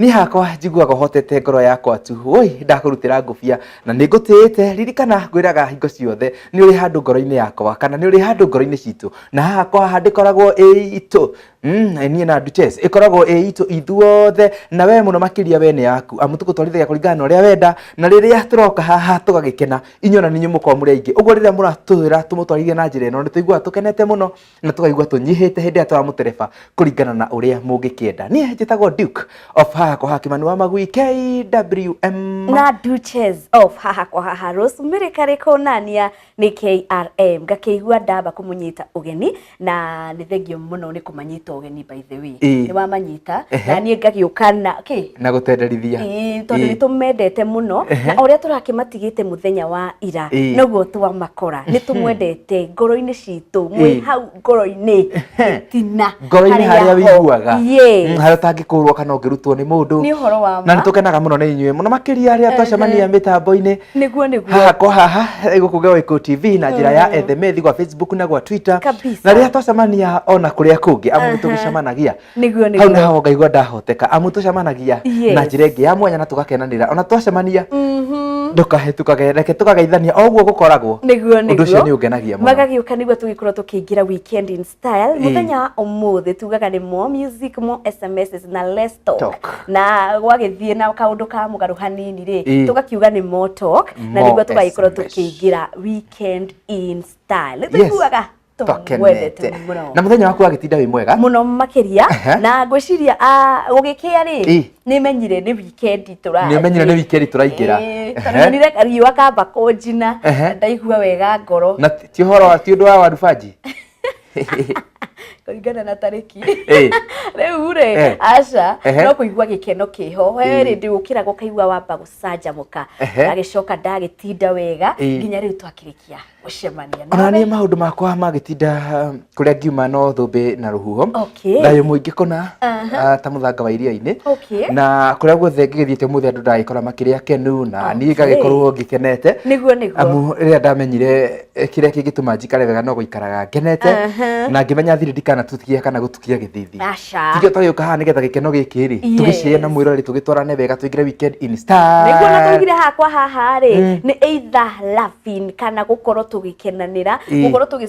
niĩ hakwa njiguaga ũhotete ngoro yakwa tu woi ndakũrutĩra ngũbia na nĩ ngũtĩĩte ririkana ngwĩraga hingo ciothe nĩ ũrĩ handũ ngoro-inĩ yakwa kana nĩ ũrĩ handũ ngoro-inĩ citũ na haha kwa haha ndĩkoragwo ĩ itũ Mm, niĩ na Dutes ĩkoragwo ĩ itũ ithuothe na we mũno makĩria we nĩ yaku amu tũgũtwarithagia kũringana na ũrĩa wenda na rĩrĩa tũroka haha tũgagĩkena inyuĩ na ninyi mũkorwo mũrĩ aingĩ ũguo rĩrĩa mũratwĩra tũmũtwarithie na njĩra ĩno nĩ tũiguaga tũkenete mũno na tũkaigua tũnyihĩte hĩndĩ ĩrĩa tũramũtereba kũringana na ũrĩa mũngĩkĩenda niĩ njĩtagwo duke of haha kwa haha kĩmani wa magui kwm na duches of haha kwa haha rosemary karĩkũ nania nĩ krm ngakĩigua ndamba kũmũnyita ũgeni na nĩ thengio mũno nĩ kũmanyita ũgeni by the way Ĩĩ. nĩ wamanyita Ehe. na niĩ ngagĩũka na kĩ na gũtenderithia Ĩĩ, tondũ Ĩĩ. nĩ tũmendete mũno Ehe. na ũrĩa tũrakĩmatigĩte mũthenya wa ira Ĩĩ. noguo twamakora nĩ tũmwendete ngoro-inĩ citũ mwĩ Ĩĩ. hau ngoro-inĩ tina ngoro-inĩ harĩa wĩiguaga Mm, Yes. harĩa ũtangĩkũrwo kana ũngĩrutwo nĩ mũndũ Nĩ ũhoro wa ma. na nĩ tũkenaga mũno nĩ inyuĩ mũno makĩria arĩa Ehe. twacemania mĩtambo-inĩ nĩguo nĩguo haha kwa haha eh, gũkũ Gaweko TV na njĩra ya ethemethi gwa Facebook na gwa Twitter Kabisa. na rĩrĩa twacemania ona kũrĩa kũngĩ amu nĩ tũgĩcemanagia nĩguo hau nĩguo naho ngaigua ndahoteka amu tũcemanagia Yes. na njĩra ĩngĩ ya mwanya na tũgakenanĩra ona twacemania Mhm. ndũkahetũkage reke tũkageithania o ũguo gũkoragwo nĩguo Ũndũ ũcio nĩũngenagia mũno. magagĩũka nĩguo tũgĩkorwo tũkĩingĩra weekend in style muthenya umuthi tugaga ni more music more sms na less talk Talk. na gwagithie na kaundu ka mugaru hanini Eh. ri tugakiuga ni more talk na More niguo tugaikorwo SMS. tukiingira weekend in style Yes. tuiguaga tũgwendete tokenete mũno na muthenya waku agĩtinda wĩ mwega muno makiria Aha. na ngwiciria ugikia Eh. ri ni menyire ni weekend tura nĩ ũmenyire nĩ wikendi tũraingĩra Ehe. tondu nire riua kamba kunjina Ehe. ndaigua wega ngoro na ti horo wa ti undu wa waru banji kũringana na tarĩki Eh. rĩu rĩ Eh. aca Ehe. no kũigua gĩkeno kĩho we Eh. rĩndĩ ũkĩraga ũkaigua wamba gũcanjamũka Ehe. ndagĩcoka ndagĩtinda wega Eh. nginya rĩu twakĩrĩkia gũcemania ona nawe. niä maå ndå makwa magä tinda kå rä a ngiuma no thå mbä na rå huho Okay. Okay. Thayũ mũingĩ kũna ah, ta mũthanga wa iria-inĩ Okay. na kũrĩa guothe ngĩgĩthiĩte mũthĩ andũ ndagĩkora makĩrĩ akenu na niĩ ngagĩkorwo ngĩkenete Nĩguo nĩguo. amu rĩrĩa ndamenyire eh, kĩrĩa kĩngĩtũma njikare wega no gũikaraga ngenete Aha. na ngĩmenya thiri ndikanatukia kana gũtukia gĩthithi Aca. tikio twagĩũka haha nĩgetha gĩkeno gĩkĩ rĩ Yes. tũgĩcĩe na mwĩrorĩ tũgĩtwarane wega tũingĩre weekend in nĩguo na style tũigire hakwa haha rĩ nĩ either laughing kana gũkorwo tũgĩkenanĩra Ĩ. gũkorwo tũgĩ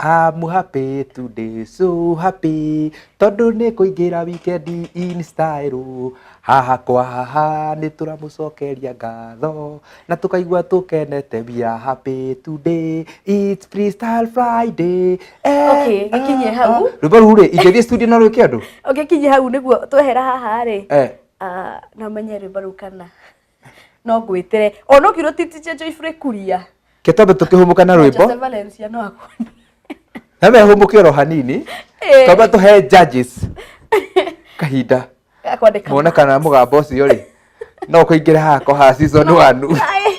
I'm happy today, so happy tondũ nĩ kũingĩra wikendi in style haha kwa haha nĩ tũramũcokeria ngatho na tũkaigua tũkenete we are happy today it's freestyle friday eh, Okay, gĩkinyie ah, hau. ah. rwĩmbo rũu rĩ ingĩthiĩ studio na rwĩke andũ ũngĩkinya hau nĩguo twehera haha rĩ eh. ah, na menye rwĩmbo rũu kana no ngwĩtĩre o no kiugo titiche jo ifure kuria kĩtobe tũkĩhũmũka na rwĩmbo Joseph Valencia no akuone na mehũmũke oro hanini Eh. twamba tũhe judges kahinda akwandĩka mone kana mũgambo ũcio rĩ no kũingĩra hako ha season wanu Ai.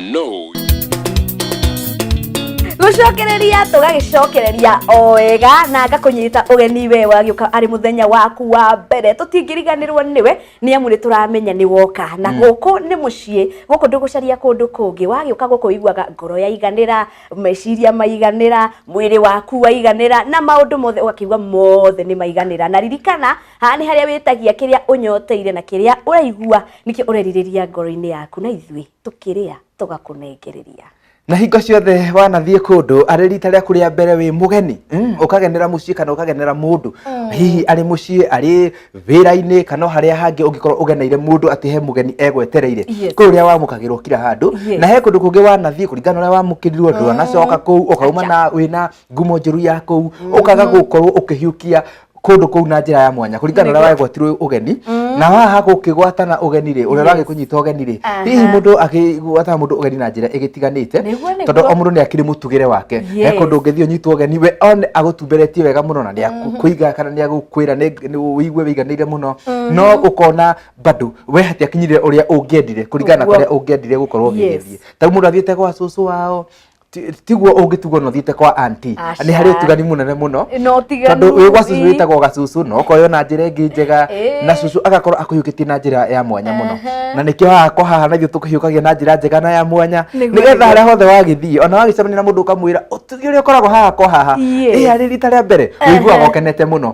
No. gucokereria tugagicokereria o wega na ngakunyita ugeni we wagiuka ari muthenya waku wa mbere tutingiriganirwo niwe ni amu ni turamenya ni woka na guku ni mucii guku ndugucaria kundu kungi wagiuka guku iguaga ngoro yaiganira meciria maiganira mwiri waku waiganira na maundu mothe ugakigua mothe ni maiganira na ririkana haha ni haria witagia kiria unyoteire na kiria uraigua nikio ureririria ngoro-ini yaku na ithui tũkĩrĩa tũgakũnengereria na hingo ciothe wanathiĩ kũndũ arĩ rita rĩaku rĩa mbere wĩ mũgeni mm. ũkagenera mũciĩ kana ũkagenera mũndũ mm. hihi arĩ mũciĩ arĩ wĩra-inĩ kana harĩa hangĩ ũngĩkorwo ũgeneire mũndũ atĩ he mũgeni egwetereire kũrĩ ũrĩa wamũkagĩrwo kira handũ na he kũndũ kũngĩ wanathiĩ kũringana ũrĩa wamũkĩrirwo ndwanacoka mm. kũu ũkauma na wĩna ngumo njũru ya kũu mm-hmm. ũkaga gũkorwo ũkĩhiũkia kũndũ kũu na njĩra ya mwanya kũringana na ũrĩa wagwatirwo ũgeni na haha gũkĩgwatana ũgeni rĩ ũrĩa ũragĩ kũnyita ũgeni rĩ Aha. hihi mũndũ akĩgwatana mũndũ ũgeni na njĩra ĩgĩtiganĩte Nĩguo, nĩguo. tondũ o mũndũ nĩ akĩrĩ mũtugĩre wake he Yes. kũndũ ũngĩthiĩ ũnyitwo ũgeni we one agũtumberetie wega mũno na nĩ akũiga kana nĩ agũkwĩra nĩ- nĩ ũigue wĩiganĩire mũno no ũkona bado we hatiakinyire ũrĩa ũngĩendire kũringana na Ũguo. kũrĩa ũngĩendire gũkorwo Yes. ũgĩgĩthiĩ tau mũndũ athiĩte gwa cũcũ wao ti- tiguo ũngĩtugwo no thiĩte kwa anti Aca. nĩ harĩ ũtigani mũnene mũno no tiganu tondũ wĩ gwa cucu ii. wĩtagwo gacucu no ũkoywo na njĩra ĩngĩ njega Ĩĩ. na cucu agakorwo akũhiũkĩtie na njĩra ya mwanya mũno Ehe. na nĩkĩo haha kwa haha na ithuĩ tũkũhiũkagia na njĩra njega na ya mwanya Nĩguo, nĩgetha nĩguo. harĩa hothe wagĩthiĩ ona wagĩcemania na mũndũ ũkamwĩra ũtugi ũrĩa ũkoragwo haha kwa haha Yes. ĩya rĩ rita rĩa mbere Ehe. ũiguaga ũkenete mũno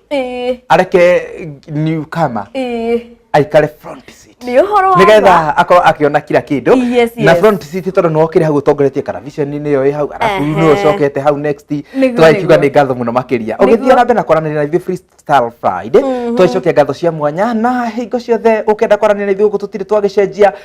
Ĩĩ, areke new kama ĩĩ. aikare front seat Nĩ ũhoro wa ma. nigetha akorwo akiona kila kindu Yes, na yes. front seat tondu niwe ukiri hau utongoretie kana vision nĩ yo ĩ hau arabu Ehe. niwe ucokete hau next Nĩguo, twakiuga nĩguo. nĩ ngatho mũno makiria Nĩguo. ũgĩthiĩ na mbere na kwaranĩria na ithuĩ freestyle friday twacokia ngatho cia mwanya na hingo ciothe ũkenda kwaranĩria na ithuĩ gũkũ tũtirĩ twagĩcenjia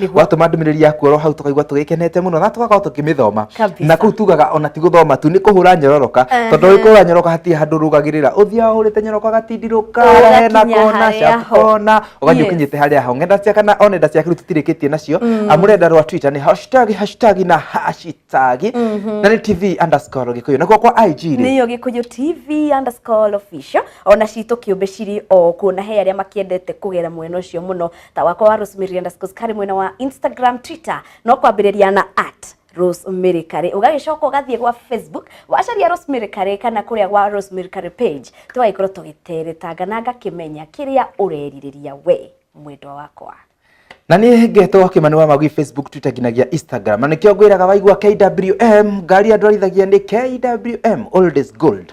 Nĩguo. watũma ndũmĩrĩri ya kuorwo hau tũkaigua tũgĩkenete mũno na tũgakorwo tũkĩmĩthoma Kabisa. na kũu tugaga ona ti gũthoma tu nĩ kũhũra nyororoka Ehe. tondũ ũrĩ kũhũra nyoroka hatirĩ handũ ũrũgagĩrĩra ũthiaga ũhũrĩte nyoroka gatindirũka Ũgakinya hena kona harĩa ciaku ho. kona ũgathiĩ Yes. ũkinyĩte harĩa ho ng'enda cia kana o nenda ciaku rĩu tũtirĩkĩtie nacio amu rũrenda rwa twitter nĩ hashtag hashtag na hashtag na nĩ tv underscore gĩkũyũ nakuo kwa ig rĩ nĩyo gĩkũyũ tv underscore official ona citũ kĩũmbe cirĩ o kuo na he arĩa makĩendete kũgera mwena ũcio mũno ta wakwa wa rosemary underscore kari mwena wa instagram twitter no kwambĩrĩria na at rosemary kari ũgagĩcoka ũgathiĩ gwa facebook wacaria rosemary kari kana kũrĩa gwa rosemary kari page tũgagĩkorwo tũgĩteretanga na ngakĩmenya kĩrĩa ũrerirĩria we mwendwa wakwa na nä ngetwo akä wa magui facebook twitter nginagia instagram na nä kä o ngwä raga waigua kwm ngari andå arithagia nä kwm old is gold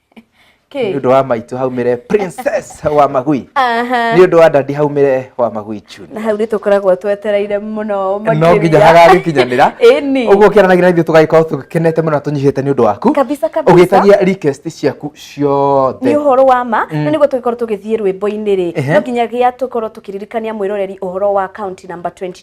nĩ ũndũ wa maitũ haumĩre princess wa magui nĩ ũndũ wa dadi haumĩre wa magui chuni na hau nĩ tũkoragwo twetereire mũno no nginya hagagĩkinyanĩra ũguo ũkĩaranagia na ithuĩ tũgagĩkorwo tũgĩkenete mũno na tũnyihĩte nĩ ũndũ waku ũgĩtagia request ciaku ciothe nĩ ũhoro wa ma mm. na nĩguo tũgĩkorwo tũgĩthiĩ rwĩmbo-inĩ rĩ no nginyagia tũkorwo tũkĩririkania mwĩroreri ũhoro wa county number 22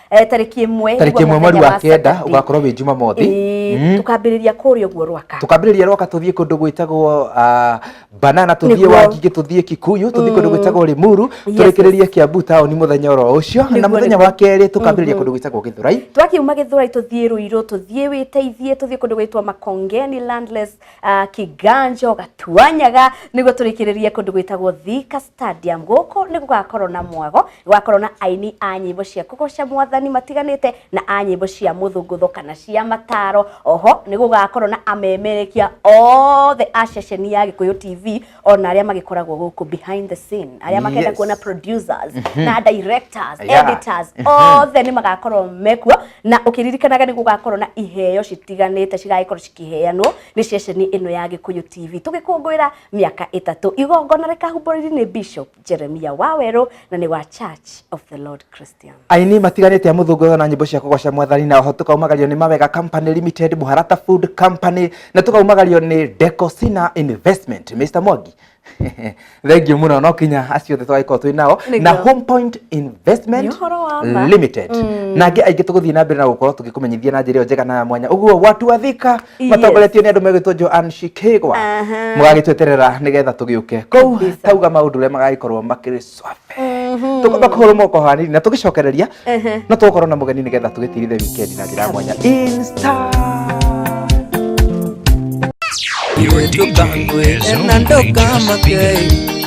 Eh, tarĩki ĩmwe tarĩki ĩmwe mweri wa kenda Saturday. ũgakorwo wĩ jumamothi Ĩĩ, Mm. tukambĩrĩria kũrĩa ũguo rwaka tukambĩrĩria rwaka tũthiĩ kũndũ gwĩtagwo ah, banana tũthiĩ Nĩguo. wangigĩ tũthiĩ kikuyu tũthiĩ kũndũ gwĩtagwo rimuru Yes, tũrĩkĩrĩrie kiambu taũni mũthenya oro ũcio na Nĩguo, mũthenya nĩguo. wa kerĩ tukambĩrĩria kũndũ gwĩtagwo gĩthurai twakiuma gĩthũrai tũthiĩ rũirũ tũthiĩ wĩteithie tũthiĩ kũndũ gwĩtwo makongeni landless uh, kiganjo gatuanyaga nĩguo tũrĩkĩrĩrie kũndũ gwĩtagwo thika stadium gũkũ nĩ gũgakorwo na mwago gũgakorwo na aini a nyĩmbo cia kũgoca mwathani matiganĩte na a nyĩmbo cia mũthũngũtho kana cia mataro oho nĩ gũgakorwo na amemerekia othe a ceceni ya gĩkũyũ tv ona arĩa magĩkoragwo gũkũ behind the scene arĩa makenda Yes. kuona producers na directors Yeah. editors othe nĩ magakorwo mekuo na ũkĩririkanaga nĩ gũgakorwo na iheo citiganĩte cigagĩkorwo cikĩheanwo nĩ ceceni ĩno ya gĩkũyũ tv tũgĩkũngũĩra mĩaka ĩtatũ igongona rĩkahumbũrĩri nĩ bishop jeremia wawerũ na nĩ wa church of the lord christian aini matiganĩte a mũthũngũtho na nyĩmbo cia kũgoca mwathani na oho tũkaumagario nĩ mawega company limited mũharata food company na tũkaumagario nĩ decosina investment mr mwangi thengiũ mũno no kinya acio othe twagĩkorwo twĩ nao Nĩguo. na home point investment Nĩ ũhoro wa ma. limited na angĩ aingĩ tũgũthiĩ na mbere na gũkorwo tũgĩkũmenyithia na njĩra ĩyo njega na ya mwanya ũguo watu wathika Yes. matongoretio nĩ andũ megwĩtwo Joan Shikegwa Aha. mũgagĩtweterera nĩgetha tũgĩũke kũu Kabisa. tauga maũndũ ũrĩa magagĩkorwo makĩrĩ swabe tũkwamba kũhũrwo moko hanini na tũgĩcokereria Ehe. no tũgũkorwo na mũgeni nĩgetha tũgĩtirithe wikendi na njĩra ya mwanya Insta. Your DJ is only just beginning.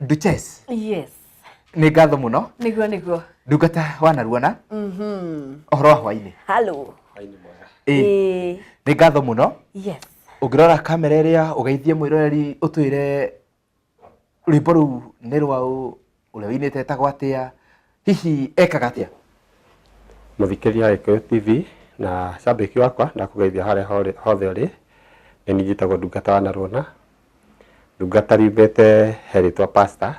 Duchess. Yes. Nĩ ngatho mũno. Nĩguo nĩguo. Ndungata wanaruona. Mhm. Ũhoro wa hwainĩ. Hello. Hwainĩ mwega. Ĩĩ. Nĩ ngatho mũno. Yes. Ũngĩrora kamera ĩrĩa ũgeithie mwĩroreri ũtwĩre rwĩmbo rũu nĩ rwa ũ, ũrĩa wĩinĩte etagwo atĩa, hihi ekaga atĩa mũthikĩria wa gĩkũyũ tv na cambĩki wakwa ndakũgeithia harĩa hore- hothe ũrĩ nĩ niĩ njĩtagwo ndungata wa narwona ndungata riumĩte he rĩtwa pasta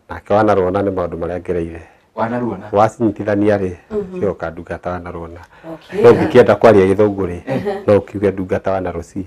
nake wa narwona nĩ maũndũ marĩa ngereire wanaruona wacinyitithania rĩ cioka ndungata wa narwona no ingĩkĩenda kwaria gĩthũngũ rĩ no ũkiuge ndungata wa narosi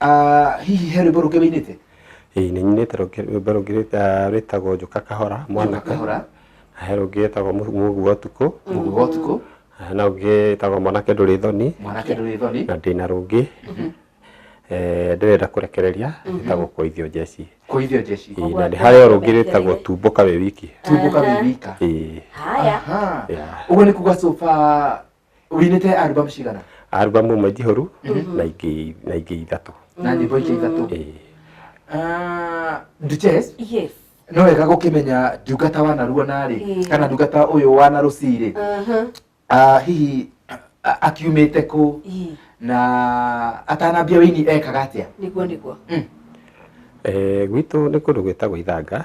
Ah, hihi he rwĩmbo rũngĩ wĩinĩte ĩĩ nĩ nyinĩte rũngĩ- rwĩmbo rũngĩ rwĩta- ah, rwĩtagwo njũka kahora mwanake kahora Na he rũngĩ rwĩtagwo Mũ- mũguo wa ũtukũ mũguo wa ũtukũ Na hena rũngĩ rwĩtagwo mwanake ndũrĩ thoni mwanake ndũrĩ thoni na ndĩna rũngĩ eh, ndĩrenda kũrekereria rwĩtagwo kũithio njeci kũithio njeci Ĩĩ, na nĩ harĩ o rũngĩ rwĩtagwo tumbũka wĩ wiki tumbũka wĩ wika Ĩĩ, haya Aha. yeah. ũguo nĩ kuga sofa ũinĩte albamu cigana albamu ĩmwe njihũru na ingĩ na ingĩ ithatũ na nyĩmbo ingĩ ithatũ Ĩĩ. Ah, Duchess yes no wega gũkĩmenya ndungata wa narua narĩ Ĩĩ. kana ndungata ũyũ wa narũcirĩ Mhm. Ah, hihi a- akiumĩte kũ Ii, na atanambia wĩini ekaga atĩa nĩguo nĩguo Eh, gwitũ nĩ kũndũ gwĩtagwo ithanga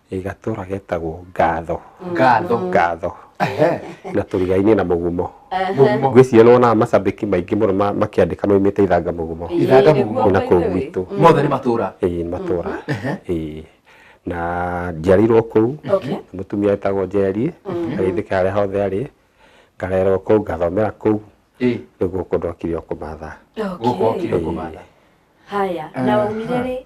Ĩ gatũra getagwo Ngatho. Ngatho. Ngatho. Ehe. Na tũrigainĩ na mũgumo. Mũgumo. Ngwĩciria nĩwonaga macambĩki maingĩ mũno ma- makĩandĩka maumĩte ithanga mũgumo. Ithanga mũgumo. Nĩ na kũu gwitũ. Mothe nĩ matũra. Ĩĩ nĩ matũra. Ĩĩ. Na njiarĩirwo kũu. Okay. Mũtumia etagwo Njeri. Agĩthika harĩa hothe arĩ. Ngarerwo kũu, ngathomera kũu. Ĩĩ. Rĩu gũkũ ndokire o kũmatha. Gũkũ okire kũmatha. Haya, na waumire rĩ?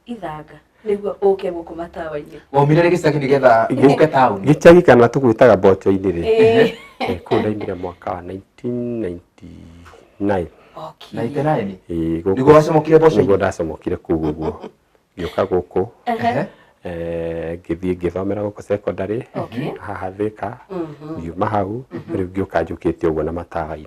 ithanga nĩguo ũke gũkũ matawa-inĩ waumire rĩ gĩcagi nĩgetha ũke taũni gĩcagi kana tũgwĩtaga mboco-inĩ rĩ Ĩĩ. Eh, kũu ndaimire mwaka wa 1999 Okay. na iteraini Ĩĩ, gũkũ- Nĩguo wacamũkire mboco-inĩ? nĩguo ndacamũkire kũu ũguo ngĩũka gũkũ Ehe. eh, ngĩthiĩ ngĩthomera gũkũ secondary Okay. haha thĩka Mhm. ngiuma hau rĩu ngĩũka njũkĩte ũguo na matawa-inĩ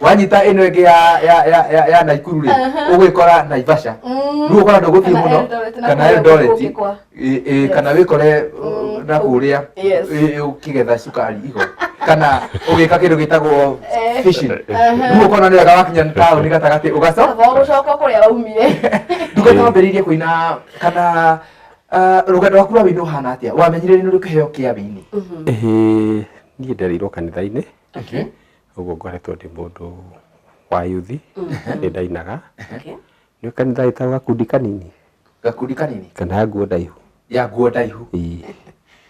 wanyita ino ingi ya ya ya ya, ya Naikuru ri Aha. ugwikora Naivasha Mm. riu ukora nduguthii Kana muno Eldoret, na kana kũrĩa Eldoret gũgĩkwa. ĩ- ĩ, Yes. kana wikore Mm. na kuria Yes. ukigetha cukari igo kana ugika kindu gitagwo Eh. fishing Aha. riu ukona ni wega wakinya tauni gatagati ugaco Baba gũcoka kũrĩa waumire nduga no ambĩrĩirie kũina kana ah, rũgendo rwaku rwa wĩini ũhana atĩa wamenyire nĩ rũkĩheo kĩa wĩini Ĩhĩ, niĩ ndereirwo kanitha-inĩ ũguo ngoretwo ndĩ mũndũ wa yuthi nĩ ndainaga Okay. nĩ kanitha ĩtagwo gakundi kanini gakundi kanini kana ya nguo ndaihu ya nguo ndaihu Ii,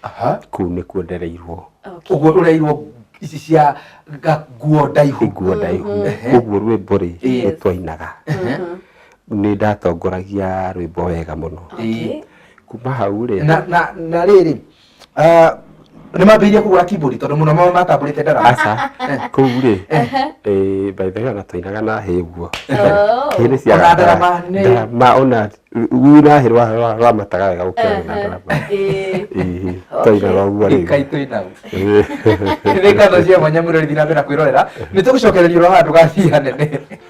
aha kũu nĩkuo ndereirwo Okay. ũguo ũreirwo ici cia ga- nguo ndaihu nguo ndaihu ũguo rwĩmbo rĩ Yes. nĩ twainaga nĩ ndatongoragia rwĩmbo wega mũno Okay. kuma hau rĩ na na na rĩrĩ Ah, nĩ mambĩirie kũgũra keyboard tondũ mũno mao matambũrĩte ndara aca kuu rĩ eh, by the way ona twainaga na hĩ ũguo Oh. hĩ nĩ cia Ona ndarama nĩ- ndarama ona rĩu na hĩ rwa- rwa- rwamataga wega gũkĩra wĩ na ndarama Eh. Ĩĩ, twainaga ũguo rĩu ikaitũ inau Ĩĩ. nĩ ngatho cia mwanya mũrori thiĩ na mbere na kwĩrorera nĩ tũgũcokereria ũrĩa handũ gathiĩ hanene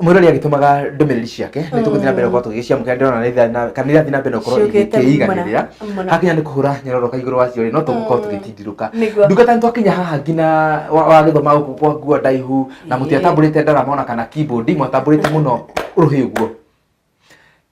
mwirori agĩtũmaga ndũmĩrĩri ciake nĩ tũgũthiĩ na mbere gũkorwo tũgĩciamũkĩra ndĩrona nĩ itha- na- kana irathiĩ na mbere gũkorwo Ciũkĩte igĩkĩiganĩrĩra mũno, mũno. hakinya nĩ kũhũra nyororoka igũrũ wa ciorĩ no tũgũkorwo tũgĩtindirũka Nĩguo. ndungata nĩ twakinya haha nginya wa- wagĩthoma gũkũ kwa nguo ndaihu na mũtiatambũrĩte ndarama ona kana keyboard mwatambũrĩte mũno rũhĩ guo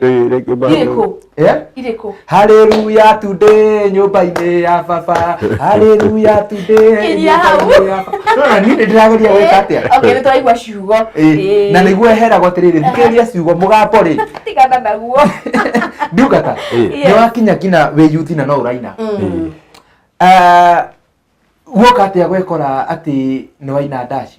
Eh, reke ba- Irĩkũ? Eh? Irĩkũ? Haleluya today nyũmba-inĩ ya baba. Haleluya today. Kinyia hau. nyũmba-inĩ ya baba. Nona niĩ nĩ ndĩrageria gwĩka atĩa? Okay, nĩtũraigua ciugo. Eh, na nĩguo eheragwo atĩrĩrĩ thikĩrĩria ciugo mũgambo rĩ Tigana naguo. ndungata Eh. nĩ wakinya nginya wĩ yuthi na no ũraina Mm. Ah, guoka atĩa gwekora atĩ nĩ waina ndaci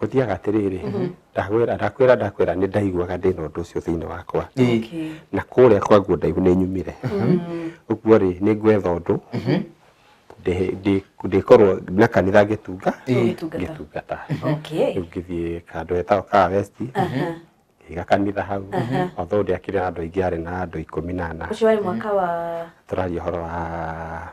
gũthiaga atĩrĩrĩ ndakwĩra ndakwĩra ndakwĩra nĩ ndaiguaga ndĩ na ũndũ ũcio thĩinĩ wakwa Okay. na kũrĩa kwanguo ndaihu nĩ nyumire ũguo rĩ nĩ ngwetha ũndũ ndĩ- ndĩ- ndĩkorwo na kanitha ngĩtunga Ũgĩtungata. ngĩtungata Okay. rĩu ngĩthiĩ kandũ hetagwo kaa west Aha. ngĩiga kanitha hau although ndĩakĩrĩ na andũ aingĩ arĩ na andũ ikũmi na ana Ũcio warĩ mwaka wa tũraria ũhoro wa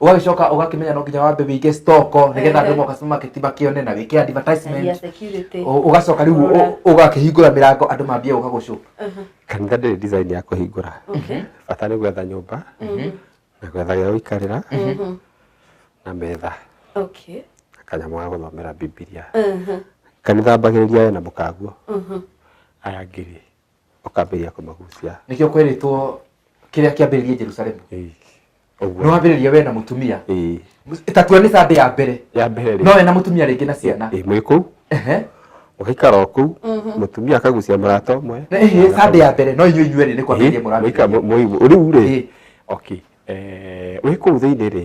ũgagĩcoka ũgakĩmenya no nginya wambe wĩige stock nĩgetha andũ Ehe. moka supermarket makĩone na wĩke advertisement Caria security. Ũ- ũgacoka rĩu Kũrora. ũ- ũgakĩhingũra mĩrango andũ mambie gũka gũcũ kanitha ndĩrĩ design ya kũhingũra Okay. bata nĩ gwetha nyũmba na gwetha gĩa gũikarĩra Mhm. na metha Okay. na kanyamũ ga gũthomera bibilia Mhm. kanitha mbagĩrĩria we na mũkaguo Mhm. aya ngiri ũkambĩrĩria kũmagucia nĩkĩo kwerĩtwo kĩrĩa kĩambĩrĩrie jerusalemu Ĩĩ. nĩ ũguo wambĩrĩria we na mũtumia Ĩĩ. tatua nĩ sande ya mbere ya mbere rĩ no we na mũtumia rĩngĩ na ciana ĩĩ, mwĩ kũu Ehe. ũgaikara o kũu mũtumia akagucia mũrata ũmwe Na ĩhĩ, sande ya mbere no inyuĩ inyuerĩ nĩ kwambĩrĩria mũrambĩrĩria rĩu rĩ Ĩĩ. okay Eh, wĩ kũu thĩinĩ rĩ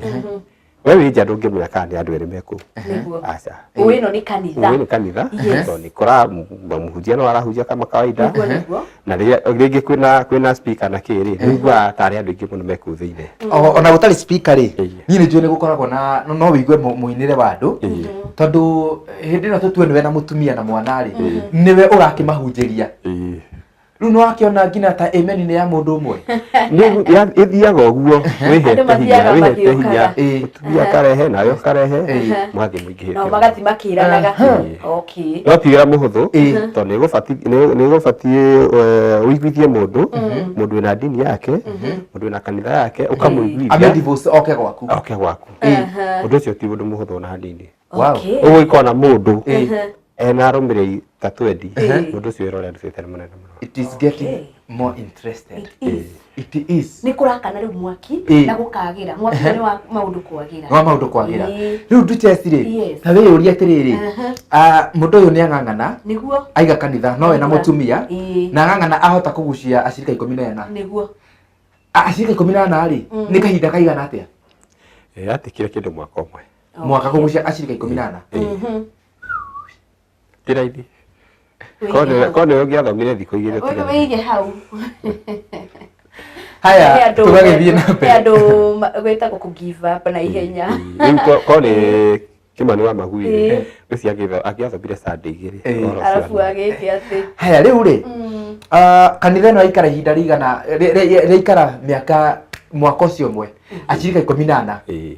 we wĩ nja ndũngĩmenya kana nĩ andũ erĩ me kũu Nĩguo. aca Ũĩ ĩno nĩ kanitha. ũyũ nĩ kanitha Yes. tondũ nĩ kora mũhunjia no arahunjia kama kawaida Nĩguo, nĩguo. na rĩrĩa rĩngĩ kwĩna kwĩna speaker na kĩ rĩ nĩiguaga tarĩ andũ aingĩ mũno me kũu thĩinĩ O- ona gũtarĩ speaker rĩ niĩ nĩ njũĩ nĩ gũkoragwo na no- no wĩigue mũ- mũinĩre wa andũ tondũ hĩndĩ ĩno tũtue nĩwe na mũtumia na mwana rĩ nĩwe ũrakĩmahunjĩria rĩu nĩ wakĩona nginya ta amen nĩ ya mũndũ ũmwe Nĩ- ya- ĩthiaga ũguo Andũ wĩhete mathiaga hinya wĩhete hinya magĩũkaga. Ĩĩ. mũtumia akarehe nawe ũkarehe Ĩĩ. mũgathiĩ mũingĩhĩte nao magathi makĩranaga Aha. okay no ti wĩra mũhũthũ Ĩĩ. tondũ nĩ gũbati- nĩ- nĩ gũbatiĩ eh, ũiguithie mũndũ mũndũ wĩna ndini yake mũndũ wĩna kanitha yake ũkamũiguithia amedivos oke gwaku oke gwaku Ĩĩ. ũndũ ũcio ti ũndũ mũhũthũ ona hanini Wow. Okay. Ũguo ikona mũndũ ena arũmĩrĩri ta 20 mũndũ ũcio wĩrore andũ citari mũnene mũno. It is getting Okay. more interested. It is. It is. nä kå rakana rä u mwaki Ĩĩ. na gå kagä mwaki nä wa maå ndå kwagä Wa maundu kwagĩra. Ĩĩ. Rĩu nduchesi rĩ, Yes. ta wĩ ũria atĩrĩrĩ, Aha. ah, mũndũ ũyũ nĩ ang'ang'ana, nä guo aiga kanitha, no we na mũtumia, Ĩĩ. na ang'ang'ana ahota kũgucia acirika ikũmi na ena. nä guo Ah, Acirika ikũmi na ena rĩ, nĩ kahinda kaigana atĩa? Eh, Atikire kĩndũ mwaka ũmwe. mwaka kũgucia acirika ikũmi na ana Mhm. ti raithi Wĩige hau. korwo nĩwe ũngĩathomire thikũ igĩrĩ ti Wĩ- raithi. wĩige hau He haya andũ- tũgagĩthiĩ na he mbere andũ ma- gwĩtagwo kũ give up na ihenya rĩu ko- ko nĩ kĩmani wa magui Ĩĩ. ũcio agĩtho- akĩathomire sande igĩrĩ Ĩĩ. ũhoro ũcio arabu wa- agĩte atĩ haya rĩu rĩ mm, ah, kanitha ĩno yaikara ihinda rĩigana rĩ- rĩ- rĩaikara mĩaka mwaka ũcio ũmwe acirika ikũmi na ana Ĩĩ.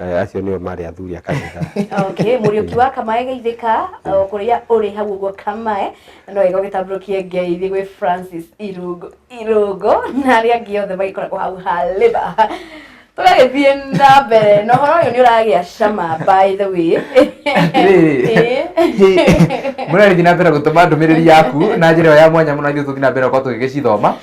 Eh, acio nĩo marĩ athuri a kanitha okay mũriũki wa kamae geithĩka o kũrĩa ũrĩ hau ũguo kamae no wega ũgĩtambũrũkie ngeithi gwĩ francis irũngũ irũngũ na arĩa angĩ othe magĩkoragwo hau haliba tũgagĩthiĩ na mbere na ũhoro ũyũ nĩ ũragĩa cama by the way mũrarĩthi na mbere gũtũma ndũmĩrĩri yaku na njĩra ĩyo ya mwanya mũno ithuĩ tũthiĩ na mbere gũkorwo tũgĩgĩcithoma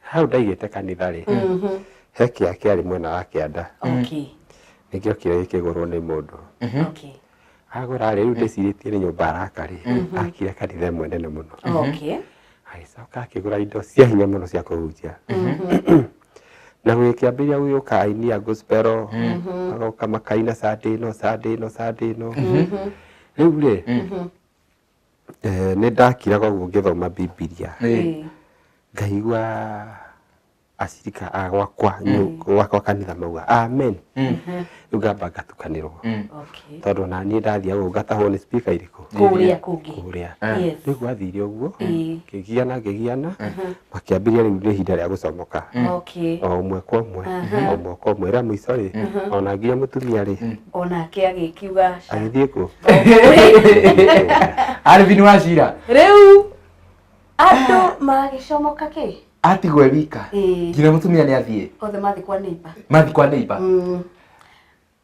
hau ndaigĩte kanitha rĩ he kĩa kĩarĩ mwena wa kĩanda Okay. nĩkĩo kĩo gĩkĩgũrwo nĩ mũndũ Okay. agũra rĩ rĩu ndĩcirĩtie nĩ nyũmba araka rĩ akire kanitha ĩmwe nene mũno Okay. agĩcoka akĩgũra indo cia hinya mũno cia kũhunjia na gũgĩkĩambĩrĩria gũgĩũka aini a gospel magoka makaina sande ĩno sande ĩno sande ĩno rĩu rĩ Eeh nĩ ndakiraga ũguo ngĩthoma Bibilia, ngaigua acirika a gwakwa gwakwa kanitha mauga Amen. Rĩu ngamba ngatukanĩrwo Okay. tondũ ona niĩ ndathiaga ũguo ngatahwo nĩ speaker irĩkũ Kũrĩa kũngĩ. kũrĩa. Yes. Rĩu gwathire ũguo Ĩĩ. ngĩgiana ngĩgiana makĩambĩrĩria rĩu nĩ ihinda rĩa gũcomoka okay o ũmwe kwa ũmwe Aha. o ũmwe kwa ũmwe rĩa mũico rĩ ona nginya mũtumia rĩ onake agĩkiuga ca agĩthiĩ kũ Alvin Wachira rĩu andũ magĩcomoka kĩ atigwo e wika Ĩĩ. nginya mũtumia nĩ athiĩ othe mathiĩ kwa neighbor mathi kwa neighbor Mm.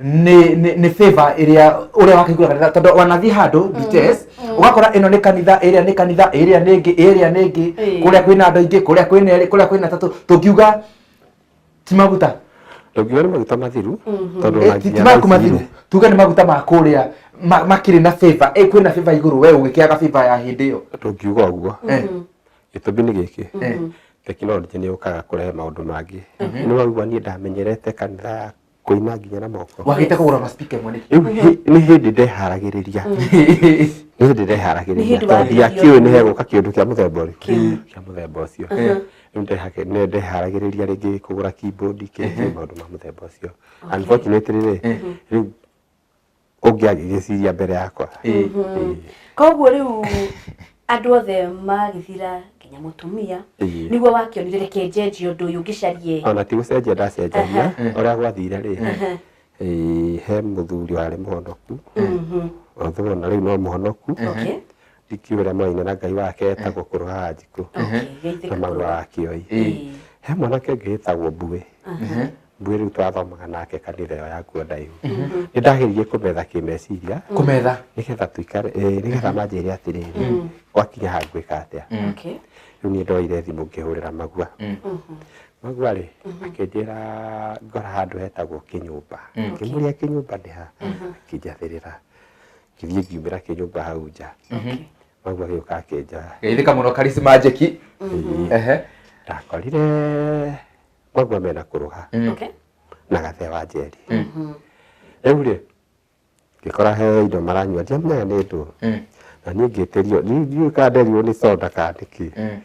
nä nä favor ĩrĩa ũrĩa wakaiguaga kanitha tondũ wanathiĩ handũ details ũgakora ĩno nĩ kanitha ĩrĩa nĩ kanitha ĩrĩa nĩ ĩngĩ ĩrĩa nĩ ĩngĩ Ĩĩ. kũrĩa kwĩna andũ aingĩ kũrĩa kwĩna erĩ kũrĩa kwĩna tatũ tũngiuga ti maguta ndũngiuga nĩ maguta mathiru tondũ Eh, na ti ti nginya maku thaa ici mathiru tuge nĩ maguta ma kũrĩa ma- makĩrĩ na favor Eh, kwĩna favor igũrũ we ũgĩkĩaga favor ya hĩndĩ ĩyo ndũngiuga ũguo Eh, gĩtũmi nĩ gĩkĩ eh. tekinoronjĩ nĩ yũkaga kũrehe maũndũ mangĩ nĩ waigua niĩ ndamenyerete kanitha kũina nginya na moko wagĩte kũgũra ma speaker ĩmwe nĩkĩ rĩu hĩ- nĩ hĩndĩ ndeharagĩrĩria nĩ hĩndĩ Nĩ ndeharagĩrĩria hĩndĩ tondũ wagĩrĩria. ndiakiũĩ nĩ hegũka kĩndũ kĩa mũthemba ũrĩkũ Kĩu. kĩa mũthemba ũcio Eh. Rĩu ndehake- nĩ ndeharagĩrĩria rĩngĩ kũgũra keyboard kĩngĩ maũndũ ma mũthemba ũcio unfortunately rĩ Eh. rĩu ũngĩ agĩgĩciria mbere yakwa Ĩĩ, ĩĩ. koguo rĩu andũ othe magĩthira nginya mũtumia Ĩĩ. nĩguo wakĩonire reke njenjie ũndũ ũyũ ngĩcarie ona ti gũcenjia ndacenjagia ũrĩa gwathire rĩ ĩĩ, he mũthuri warĩ mũhonoku Mhm. although ona rĩu no mũhonoku Okay. ndikiuga ũrĩa mwaine na ngai wake etagwo kũrũhaga njikũ Okay, na geithĩka magũra kũrũa. wa kĩoi Ĩĩ. he mwanake ũngĩ wĩtagwo mbuĩ Aha. ithuĩ rĩu twathomaga nake kanitha ĩyo yakuo ndaihu nĩ ndageririe kũmetha kĩmeciria kũmetha nĩgetha tũikare ĩĩ, nĩgetha manjĩre atĩrĩrĩ gwakinya ha ngwĩka atĩa Okay. rĩu niĩ ndoire thimũ ngĩhũrĩra magua magua rĩ akĩnjĩra ngora handũ hetagwo kĩnyũmba ngĩmũria kĩnyũmba nĩ ha akĩnjathĩrĩra ngĩthiĩ ngiumĩra kĩnyũmba hau nja magua gĩũka akĩnjoya geithĩka mũno karicimajeki ehe ndakorire maguo mena kũrũha Okay. na gathee wa njeri rĩu rĩ ngĩkora he indo maranyua ndiamenya nĩ ndũ Mm. na niĩ ngĩtĩrio niĩ ndiũĩ kana nderirwo nĩ soda kana nĩ kĩ Mm.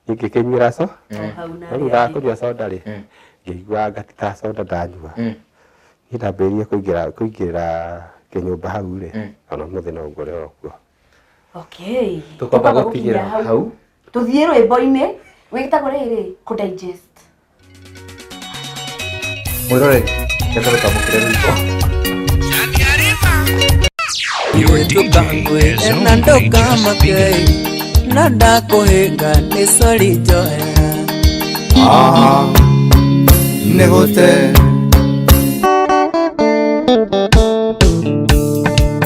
niĩ ngĩkĩnyuĩra so O hau na no thutha wa arĩa kũnyua soda rĩ Mm. ngĩigua ngatikaga soda ndanyua Mm. niĩ ndambĩrĩirie kũingĩra kũingĩra kĩnyũmba hau rĩ Mm. ona mũthĩ no ngore o kuo okay Tũkwamba gũtigĩra hau. tũthiĩ rwĩmbo-inĩ wĩtagwo rĩrĩ kũ digest Mwĩrore, reke tũtambũkĩre rwĩmbo. na ndũkamakei no ndakũhĩnga nĩ sori njoya Ah, nĩ gũte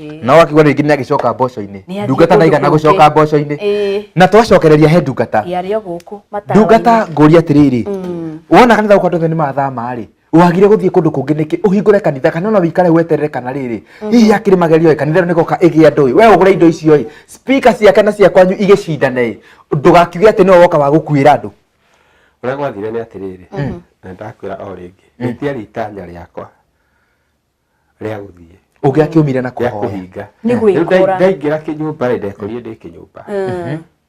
Ĩĩ. na wakigua rĩngĩ nĩ agĩcoka mboco-inĩ Nĩ athiĩ ndungata kũndũ ndaigana kũngĩ. gũcoka mboco-inĩ Ĩĩ. na twacokereria he ndungata Ĩĩ, arĩ o gũkũ matawa-inĩ. ndungata ngũria atĩrĩrĩ Mm. wona kanitha gũkũ andũ othe nĩ mathama rĩ wagire gũthiĩ kũndũ kũngĩ nĩkĩ ũhingũre kanitha kana ona wĩikare weterere kana rĩrĩ hihi hakĩrĩ magerio ĩ kanitha ĩno nĩgoka ĩgĩa andũ ĩ we ũgũre indo icio ĩ spika ciake na cia kwanyu igĩcindane ĩ ndũgakiuge atĩ nĩwe woka wa gũkuĩra andũ ũrĩa gwathire nĩ atĩrĩrĩ na ndakwĩra o rĩngĩ rĩtiarĩ itanya rĩakwa rĩa gũthiĩ ũngĩakiumire na rĩa kũhoya kũhinga Nĩ Rĩu nda- gwĩkora. ndaingĩra kĩnyũmba rĩ ndekorire ndĩ kĩnyũmba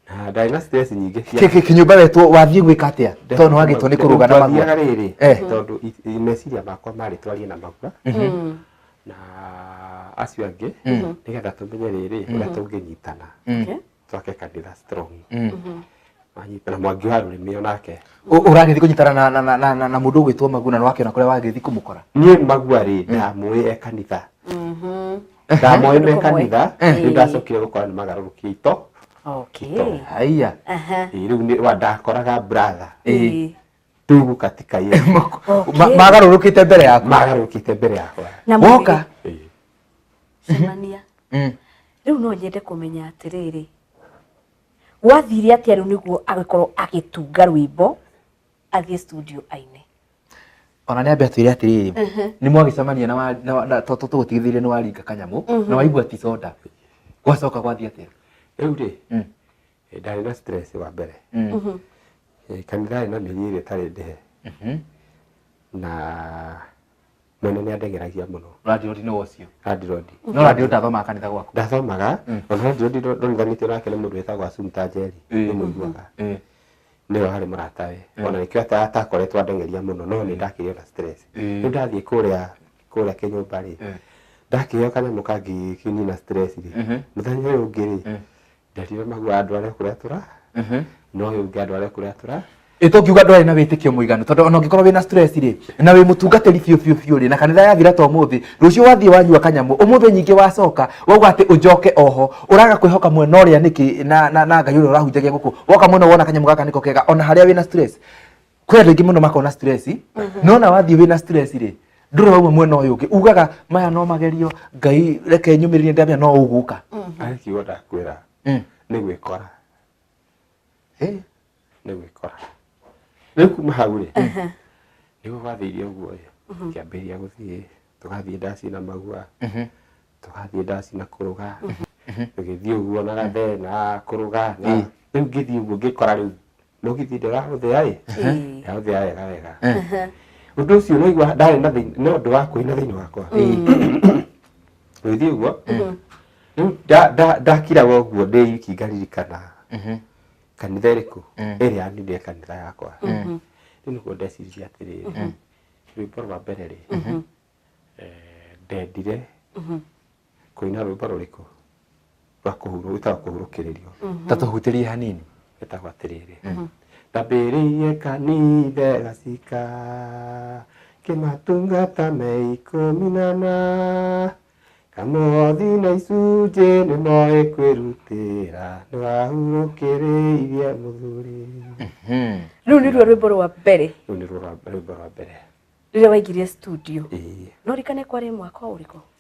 na ndarĩ na stress nyingĩ cia Kĩ- kĩ- kĩnyũmba wetwo wathiĩ gwĩka atĩa tondũ nĩ wagĩtwo nĩ kũrũga na magũa Twathiaga rĩrĩ Eh. tondũ i- i- meciria makwa marĩ twarie na magua na acio angĩ nĩgetha tũmenye rĩrĩ ũrĩa tũngĩnyitana Okay. twake kandira strong Mm. wanyita na mwangi wa rurimi onake Ũ- ũragĩthiĩ kũnyitana na- na- na- na- na- na mũndũ ũgwĩtwo maguna na wake na kũrĩa wagĩthiĩ kũmũkora nie magua ri ndamuĩ e kanitha ndamuĩ me kanitha Eh. rä ndacokire gå kora nä magarå rå kä ito Okay. haiya Aha. rä u nä wa ndakoraga brother Eh. tugu katika yetu Ma- magarũrũkĩte mbere yaku magarũkĩte mbere yakwa Na mũrĩ- woka Eh, cemania Mm. rĩu no nyende kũmenya atĩrĩrĩ gwathire atĩa rĩu nĩguo agĩkorwo agĩtunga rwĩmbo athiĩ studio aine ona nĩ ambe atwĩre atĩrĩrĩ nĩ mwagĩcemania na wa- na wa- na- to- to- tũgũtigithĩire nĩ waringa kanyamũ na waigua ti soda gwacoka gwathiĩ atĩa rĩu rĩ Mm. Eh, ndarĩ na stress wa mbere mm. eh, kana ndarĩ na mĩri ĩrĩa ĩtarĩ ndĩhe mhm. na mwene nĩ andegeragia mũno randirodi nĩ wocio randirodi no randirodi ndathomaga kanitha gwaku ndathomaga mm. ona randirodi ndonithanĩtio nake nĩ mũndũ wĩtagwo acumta njeri eh. nĩ mũiguaga nĩwe warĩ mũrata we ona nĩkĩo atakoretwo andengeria mũno no nĩ ndakĩrĩo na stress nĩ ndathiĩ kũrĩa kũrĩa kĩnyũmba rĩ ndakĩheo kanyamũ kangĩ kĩnina stress rĩ mhm. mũthenya ũyũ ũngĩ rĩ Nderire mahua andware kũrĩa tũra no ũyũ ũngĩ andware kũrĩa tũra ĩto ngiuga ndwarĩ na wĩtĩkio mũiganu tondũ ona ũngĩkorwo wĩna stress rĩ na wĩ mũtungatĩri biũ biũ biũ rĩ na kanitha yathira to mũthĩ rũciũ wathiĩ wanyua kanyamũ ũmũthĩ nyingĩ wacoka wauga atĩ ũnjoke oho ũraga kwĩhoka mwena ũrĩa nĩkĩ na, na, na ngai ũrĩa ũrahunjagia gũkũ woka mwena wona kanyamũ gaka nĩko kega ona harĩa wĩna stress kwä andå aingä må no makona stress no na wathiä wä na stress rä ndå rä wauma mwena å yå å ngä ugaga maya no magerio ngai reke nyå mä rä rie ndamenya no å gå ka akiuga ndakwĩra Mm. nĩ gwĩkora Eh, nĩ gwĩkora rĩu kuma hau rĩ nĩguo gwathĩire ũguo ĩ kĩambĩrĩria gũthiĩ tũgathiĩ ndaci na magua mhm. tũgathiĩ ndaci na kũrũga tũgĩthiĩ ũguo na gathena kũrũga na rĩu ngĩthiĩ ũguo ngĩkora rĩu mũgithi ndĩrahũthĩa-ĩ ndĩrahũthĩa wega wega ũndũ ũcio ũraigua ndarĩ na thĩna no ũndũ wa kũina thĩinĩ wakwa gũthiĩ ũguo rĩu nda- nda- ndakiraga ũguo ndĩ wiki ngaririkana kanitha ĩrĩkũ ĩrĩa yanindire kanitha yakwa rĩu nĩguo ndeciririe atĩrĩrĩ rwĩmbo rwa mbere rĩ eh, ndendire Kũina rwĩmbo rũrĩkũ rwa kũhurũ gwĩtagwo kũhurũkĩrĩrio ta tũhutĩrie hanini ĩtagwo atĩrĩrĩ ndambĩrĩirie kanithe gacika kĩmatungata me ikũmi na na kamothi na icunjĩ nĩ moĩ kwĩrutĩra nĩ wahurũkĩrĩirie mũthuri rĩu nĩruo rwĩmbo rwa mbere rĩu nĩruo rwa- rwĩmbo rwa mbere rĩrĩa waingĩrire studio Ĩĩ. no rikane kwarĩ mwaka ũrĩkũ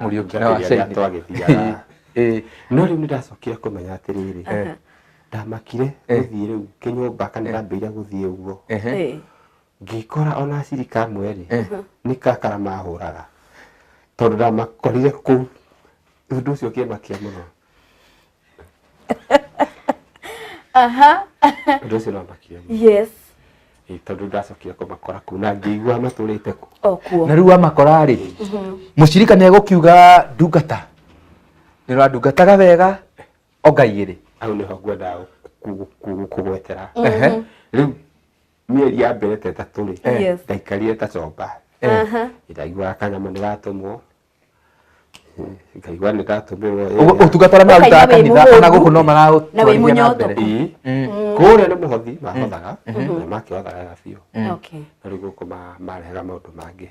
Mũriũki na Makĩria wacaini. twagĩthiaga. Ĩĩ. no rĩu nĩ ndacokire kũmenya atĩrĩrĩ Aha. ndamakire Eh. gũthiĩ rĩu kĩnyũmba kana ndambĩire gũthiĩ ũguo Ehe. Ĩĩ. ngĩkora ona aciri kamwe rĩ Eh. nĩ kakara mahũraga tondũ ndamakorire kũu ũndũ ũcio ũkĩmakia mũno ũndũ ũcio no makire mũno. yes Ĩ, tondũ ndacokire kũmakora kuu na ngĩigua matũrĩte kũ okuo na rĩu wamakora rĩ mũcirika nĩ egũkiuga ndungata nĩ ũrandungataga wega ongaigĩrĩ hau nĩho ngwendaga kũ- kũ- kũ- kũgwetera Ehe. rĩu mĩeri ya mbere ta ĩtatũ rĩ Yes. ndaikarire ta comba Aha. ndaiguaga kanyamũ nĩ gatũmwo ngaigua nĩ ndatũmĩrwo ĩ, Ũguo ũtungata ũrĩa mararutaga Ũkaigua wĩ kanitha ona mũhũnu, gũkũ no na wĩ maratwarithia na mũnyotoku. mbere ii. Mm. kũrĩa nĩ mũhothi mahothaga na makĩhothaga biũ Okay. na rĩu gũkũ ma- marehaga maũndũ mangĩ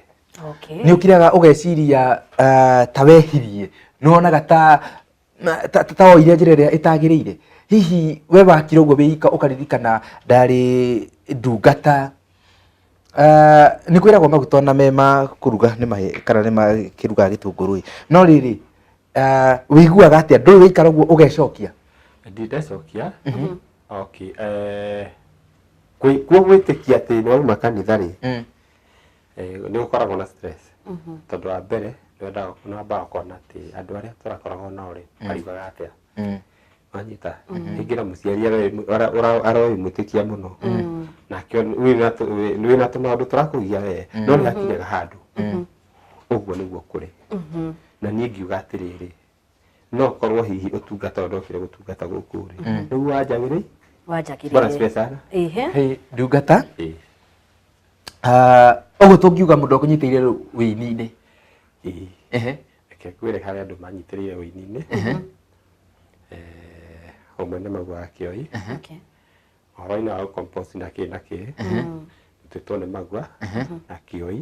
Okay. nĩ ũkiraga ũgeciria ah, ta wehirie nĩ wonaga ta na ta- ta- ta woire njĩra ĩrĩa ĩtagĩrĩire hihi we wakire ũguo wĩika ũkaririkana ndarĩ ndungata Ah, nĩ kwĩragwo maguta ona me ma kũruga nĩ mahe kana nĩ makĩrugaga gĩtũngũrũ-ĩ no rĩrĩ ah, wĩiguaga atĩa ndũĩ wĩikara ũguo ũgecokia ndindacokia okay eh, kwĩ- kwĩ gwĩtĩkia atĩ nĩ wauma kanitha rĩ Mm. Ĩĩ nĩ gũkoragwo na stress tondũ wa mbere nĩ wambaga ũkona atĩ andũ arĩa tũrakoragwo nao rĩ mariugaga atĩa wanyita. Rĩngĩ na mũciari aroĩ mwĩtĩkia mũno nake wĩna tũmaũndũ tũrakũgia wee no nĩ hakinyaga handũ ũguo nĩguo kũrĩ. Na niĩ ngiuga atĩrĩrĩ no korwo hihi utungata ũrĩa okire gũtungata gũkũ rĩ nĩguo wanjagĩrĩi wanjakire bwana siwe sana ehe Hey, ndungata Eh, ah, ũguo tũngiuga mũndũ akũnyitĩire rĩu wĩini-inĩ eh, Ehe. reke ngwĩre harĩa andũ manyitĩrĩire ũini-inĩ Eh, ũmwe nĩ magua wa kĩoi okay ũhoro-inĩ wa gũcompose na kĩ na kĩ nĩtwĩtwo nĩ magua na kĩoi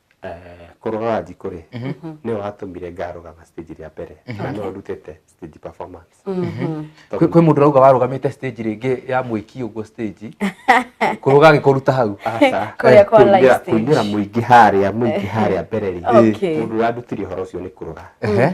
Eh, kũrũgaga njikũ rĩ nĩ watũmire ngarũgama stage rĩa mbere na no ndutĩte stage performance kwĩ kwĩ mũndũ rauga warũgamĩte stage rĩngĩ ya mwĩki ũguo stage kũrũga agĩkũruta hau Aca, Kũrĩa eh, kwa live kuumĩra- stage. kuumĩra mũingĩ harĩa mũingĩ harĩa mbere rĩ Okay. mũndũ ũrandutire ũhoro ũcio nĩ kũrũga Ehe.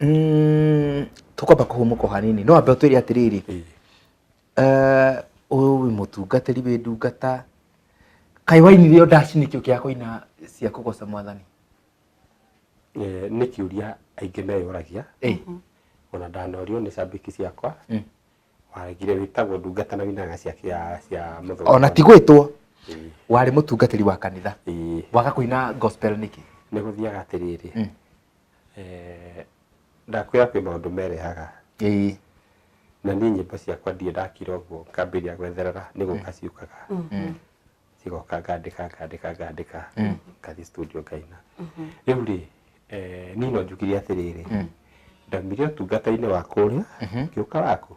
Mm, tũkwamba kũhũmũka o hanini no ambe ũtwĩre atĩrĩrĩ eh, ũyũ wĩ mũtungatĩri wĩ ndungata kaĩ wainire ndaci nĩkĩo kĩa kũina cia kũgoca mwathani Eh, nĩ kĩũria aingĩ meyũragia Eh, ona ndanorio nĩ cambĩki ciakwa Mm. waragire wĩtagwo ndungata na winaga cia cia cia mũthuri ona ti gwĩtwo Eh, warĩ mũtungatĩri wa kanitha eh, waga kũina gospel nĩkĩ nĩ gũthiaga atĩrĩrĩ Mm. Eeh ndakwĩra kwĩ maũndũ merehaga. Ĩĩ. Na niĩ nyĩmbo ciakwa ndirĩ ndakira ũguo ngambĩrĩria gwetherera nĩ gũka ciũkaga. Cigoka ngandĩka ngandĩka ngandĩka ngathiĩ studio ngaina. Rĩu rĩ, niĩ no njugire atĩrĩrĩ, ndaumire ũtungata-inĩ wa kũrĩa ngĩũka waku.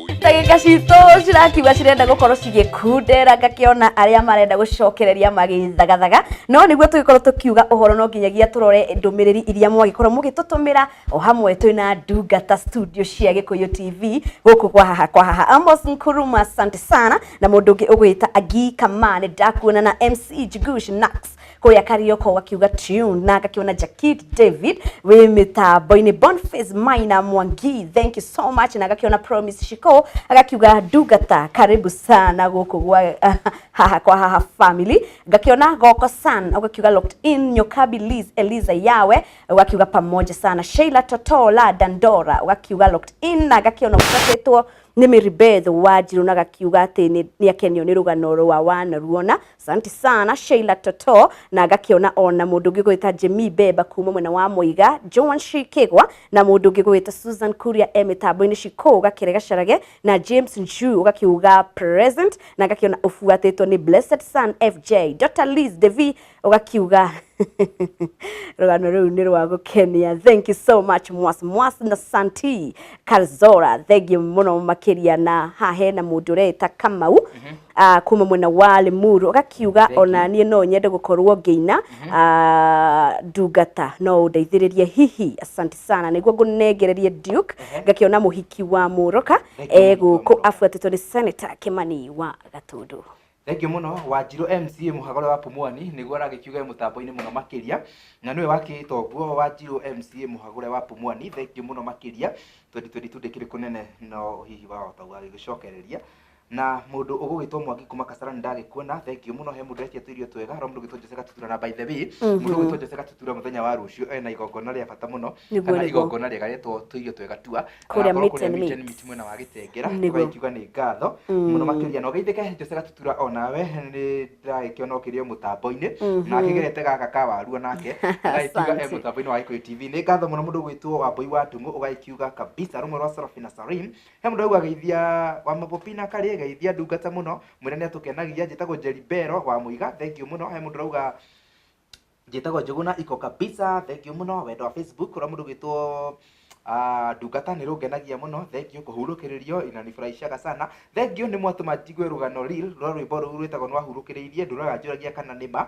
ndagĩka citũ cirakiuga cirenda gũkorwo cigĩkundera ngakĩona arĩa marenda gũcokereria magĩthagathaga no nĩguo tũgĩkorwo tũkiuga ũhoro no nginyagia tũrore ndũmĩrĩri iria mwagĩkorwo mũgĩtũtũmĩra o hamwe twĩ na ndungata studio cia gĩkũyũ tv gũkũ kwa haha kwa haha amos nkuruma asante sana na mũndũ ũngĩ ũgwĩta agi kama nĩ ndakuona na mc jigush nax kũrĩa karioko gakiuga tune na ngakĩona jakit david wĩ mĩtambo-inĩ bonface maina mwangi thank you so much na ngakĩona promise shiko agakiuga ndungata karibu sana gũkũ gwa haha kwa haha family ngakĩona goko san ũgakiuga locked in nyokabi liz eliza yawe ũgakiuga pamoja sana sheila totola dandora ũgakiuga locked in na ngakĩona ũtatĩtwo nĩ mĩribeth wa njirũ na gakiuga atĩ nĩ- nĩ akenio nĩ rũgano rwa wanaruona Asante sana Sheila Toto na ngakĩona ona mũndũ ũngĩ gwĩta Jimmy Beba kuma mwena wa Mũiga Joan Shikigwa na mũndũ ũngĩ gwĩta Susan Kuria e mĩtambo-inĩ cikũ gakĩre gacarage na James Nju ũgakiuga present na ngakĩona ũbuatĩtwo nĩ Blessed Son FJ Dr. Liz Devi ũgakiuga rũgano rũu nĩ rwa gũkenia thank you so much mwas mwas na santi karzora thengiũ mũno makĩria na haha hena mũndũ ũreĩta kamau ah, kuma mwena wa Limuru ũgakiuga Thank ona you. niĩ no nyende gũkorwo ngĩina ah, ndungata no ũndeithĩrĩrie hihi asante sana nĩguo ngũnengererie Duke ngakĩona mũhiki wa mũroka Thank you, e mũhiki wa gũkũ Mũroka. abuatĩtwo nĩ Senator Kĩmani wa Gatũndũ thengiå må no wanjirå mca muhagå wa pumwani nä guo aragä kiuga mutambo-inä må no makä ria na nä we wakä ä tonguo wanjirå mca muhagå wa pumwani thengiå må no makä ria twendi twendi tu ndä kä rä kå nene no hihi wahota gagä gä cokereria na mundu ugugitwo mwangi kuma kasarani ndagikuona thengio muno he mundu etia tuirio twega ro mundu gitwo jose gatutura na by the way Mhm. mundu gitwo jose gatutura muthenya wa rucio ena igongona ria bata muno Nĩguo, kana nĩguo. igongona riega rietwo tuirio twega tua Kũrĩa Agakorwo meet and meet. meet mwena wa gitengera Nĩguo. tugakiuga ni ngatho muno makiria na ugeithike jose gatutura onawe ni ndiragikiona ukirio mutambo-ini Mhm. na akigerete gaka ka waru onake agakiuga e Asante. mutambo-ini wa Gikuyu TV ni ngatho muno mundu gwitwo wambui wa ndungu ugakiuga kabisa rumwe rwa Seraphina Sarim He mũndũ aigua geithia wa mabobina karĩ geithia ndungata mũno mwĩre nĩ atũkenagia njĩtagwo Jerry Bero wa Mũiga thengiũ mũno he mũndũ rauga njĩtagwo Njũgũna iko kabisa thengiũ mũno wendo wa Facebook ũrĩa mũndũ gwĩtwo ah, ndungata nĩ rũngenagia mũno thengiũ kũhurũkĩrĩrio inanifurahishaga sana thengiũ nĩ mwatũma njigue rũgano reel rwa rwĩmbo rũu rwĩtagwo nĩwahurũkĩrĩirie ndũraga njũragia kana nĩ ma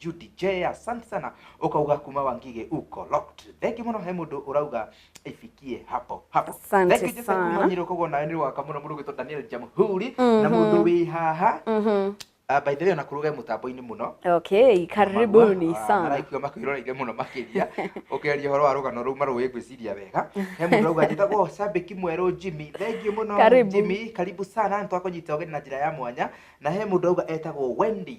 Judy J asante sana ukauga kuma wangige uko locked thank you muno he mundu urauga ifikie hapo hapo Asante thank you Joseph sana. kuma nyiro kogo nawe ni waka muno mundu gwitwa Daniel Jamhuri na mundu wi haha Mhm. Ah, by the way ona kuruga mutambo-ini muno okay karibuni Magua, ah, sana maraigua makwĩroreire mũno makĩria ũkĩaria ũhoro wa rũgano rũu marũĩ ngwĩciria wega he mũndũ auga njĩtagwo cambĩki mwerũ jimmy thengiũ mũno Karibu. jimmy karibu sana nĩ twakũnyita ũgeni na njĩra ya mwanya na he mũndũ auga etagwo wendy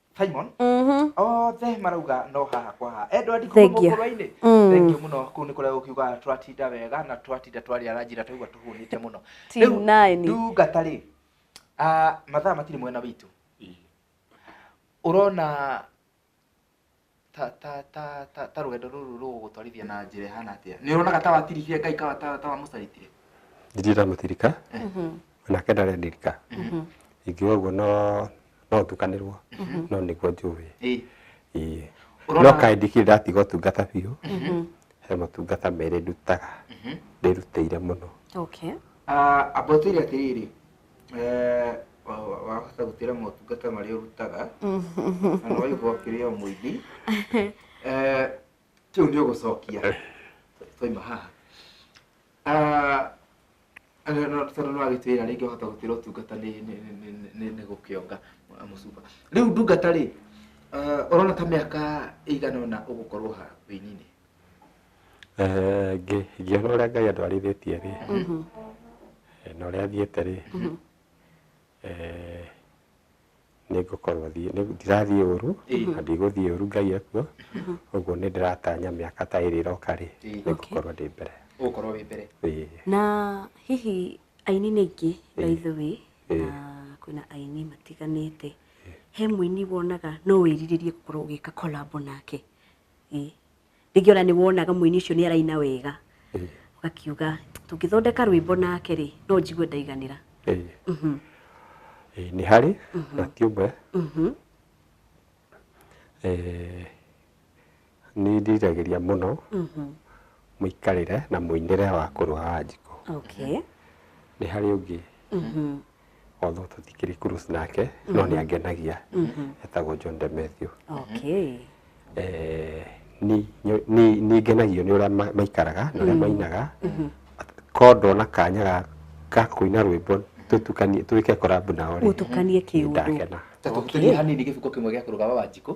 Simon Mhm. othe marauga no haha kwa haha endwa ndikuma Thengiũ. mũkũrwa-inĩ Mm. thengiũ mũno kũu nĩ kũrĩa gũkiuga twatinda wega na twatinda twarĩa ranji na twaigua tũhũnĩte mũno Team Rĩu, nine. ndungata rĩ ah, mathaa matirĩ mwena witũ ũrona ta ta ta ta ta rũgendo rũrũ rũgũgũtwarithia na njĩra ĩhana atĩa nĩ ũronaga ta watirikire ngai kawa ta ta wamũcaritire ndirĩ ndamũtirika nake ndarendirika ingiuga ũguo no no ndukanĩrwo no nĩguo njũĩ ĩĩ Ĩĩ. Ũrona- no kaĩ ndikĩrĩ ndatiga ũtungata biũ he motungata merĩ ndutaga ndĩrutĩire mũno Okay. Ah, ambwatwĩre atĩrĩrĩ wahota gutira motungata maria urutaga kana waigua ũkĩrĩa mũithi kĩu nĩ ũgũcokia twaima haha tondũ nĩ wagĩtwĩra rĩngĩ ũhota gũtĩra ũtungata nĩ gũkĩonga mũcuba rĩu ndungata rĩ ũrona ta mĩaka ĩigana ũna ũgũkorwo ha wĩininĩ Eh, ngĩ- ngĩona ũrĩa ngai andwarithĩtie rĩ eh, na ũrĩa athiĩte rĩ eh, nĩngũkorwo thiĩ- nĩ- ndirathiĩ ũru na ndigũthiĩ ũru ngai ekuo ũguo nĩ ndĩratanya mĩaka ta ĩrĩ ĩroka rĩ nĩngũkorwo ndĩ mbere ũgũkorwo wĩ mbere Ĩĩ. na hihi aini nĩ aingĩ by the way na kwĩna aini matiganĩte he mũini wonaga no wĩrirĩrie gũkorwo ũgĩka kolabo nake Ĩ, rĩngĩ ona nĩ wonaga mũini ũcio nĩ araina wega Eh, ũgakiuga tũngĩthondeka rwĩmbo nake rĩ no njigue ndaiganĩra eh. Mhm, Eh, nĩ harĩ na ti ũmwe mhm, Eh, nĩ ndiragĩria mũno mhm. mũikarĩre na mũinĩre wa kũrũa wa njiko okay nĩ harĩ ũngĩ Mhm, although tũtikĩrĩ cruise nake no nĩ angenagia etagwo John de Matthew okay Eh, ni- nyo- ni- nĩ ngenagio nĩ ũrĩa ma- maikaraga na ũrĩa mainaga ko ndona kanya ga- ga kũina rwĩmbo tũtukanie twĩke korabu nao rĩ, mũtukanie nĩ kĩũndũ ndakena Tũtũkĩrie hanini gĩbuko kĩmwe gĩa kũrũgama wa njikũ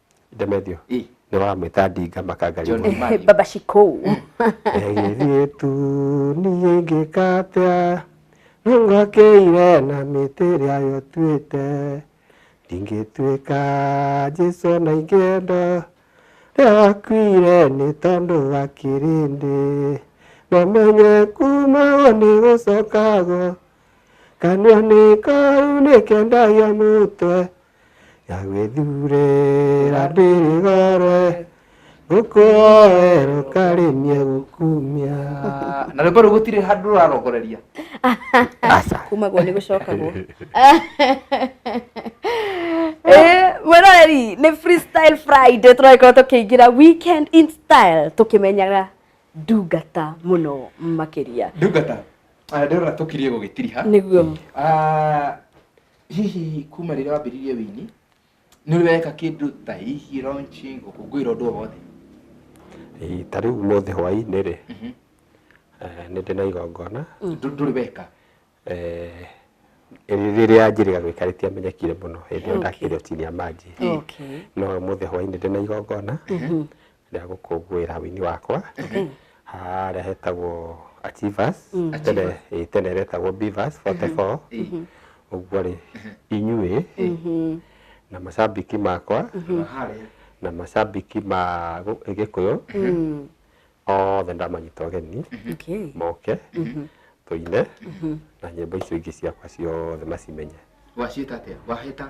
Ndemethio Ĩ. nĩ wamwĩta ndinga makanga John rĩmwe. Mari. baba cikũ Egĩrĩtu niĩ ingĩka atĩa nĩngwakĩire na mĩtĩ ĩrĩa yũtuĩte ndingĩtuĩka Jesu na ingĩenda rĩrĩa wakuire nĩ tondũ wa kĩrĩndĩ namenye kumagwo nĩ gũcokagwo kanua nĩ kau nĩkendagia mũtwe yagwĩthurĩra ndĩrĩgore ngũkũoere ũkarĩmie gũkumia na rwĩmbo rũu gũtirĩ handũ rũrarongoreria kumagwo nĩ gũcokagwo Eh, mwĩroreri nĩ freestyle friday tũragĩkorwo tũkĩingĩra weekend in style tũkĩmenyaga ndungata mũno makĩria ndungata Ah, ndĩrona tũkirie gũgĩtiriha nĩguo Ah, hihi kuma rĩrĩa wambĩrĩirie wini nĩ ũrĩ weka kĩndũ ta hihi launching gũkũngũĩra ũndũ o wothe Ĩ, ta rĩu ũmũthĩ hwaĩ-inĩ rĩ eh, nĩ ndĩ na igongona Ndũ- ndũrĩ weka eh, rĩ- rĩrĩa njĩrĩga gwĩka rĩtiamenyekire mũno hĩndĩ ĩyo ndakĩrĩ o chini ya maji Okay. no ũmũthĩ hwaĩ-inĩ ndĩ na igongona rĩa gũkũngũĩra wini wakwa harĩa hetagwo Achievers tene ĩĩ, tene retagwo Beavers 44 ũguo rĩ inyuĩ na macambĩki makwa na macambĩki ma gũ- gĩkũyũ othe ndamanyita ũgeni Okay. moke tũine na nyĩmbo icio ingĩ ciakwa ciothe macimenye wacita atia wahĩta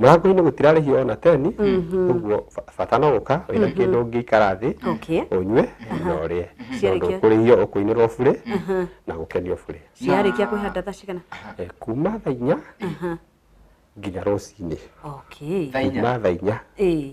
mũrango-inĩ gũtirarĩhio ona teni ũguo ba- bata no gũka wĩna kĩndũ ũngĩikara thĩ Okay. ũnyue na ũrĩe Ciarĩkia. tondũ kũrĩhio ũkũinĩrwo burĩ na gũkenio burĩ ciarĩkia kwĩhanda thaa cigana Eh, kuma thaa inya nginya rũcinĩ okay thaa inya kuma thaa inya ĩĩ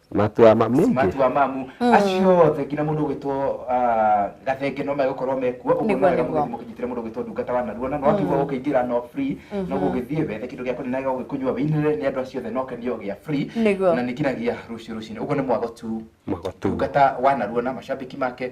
matua ma mĩingĩ matua mamu acio othe nginya mũndũ ũgwĩtwo ah, gathenge no megũkorwo mekuo ũguo Nĩguo, no wega nĩguo. mũgĩthiĩ mũkĩnyitĩre mũndũ ũgwĩtwo ndungata wa naruona no akiuga ũkĩingĩra no free no gũgĩthiĩ wethe kĩndũ gĩa kũrĩnega ũgĩkũnyua wĩinĩre nĩ andũ acio othe no kenio gĩa free Nĩguo. na nĩ nginyagia rũciũ rũcinĩ ũguo nĩ mwago tu magotu ndungata wa naruona macambĩki make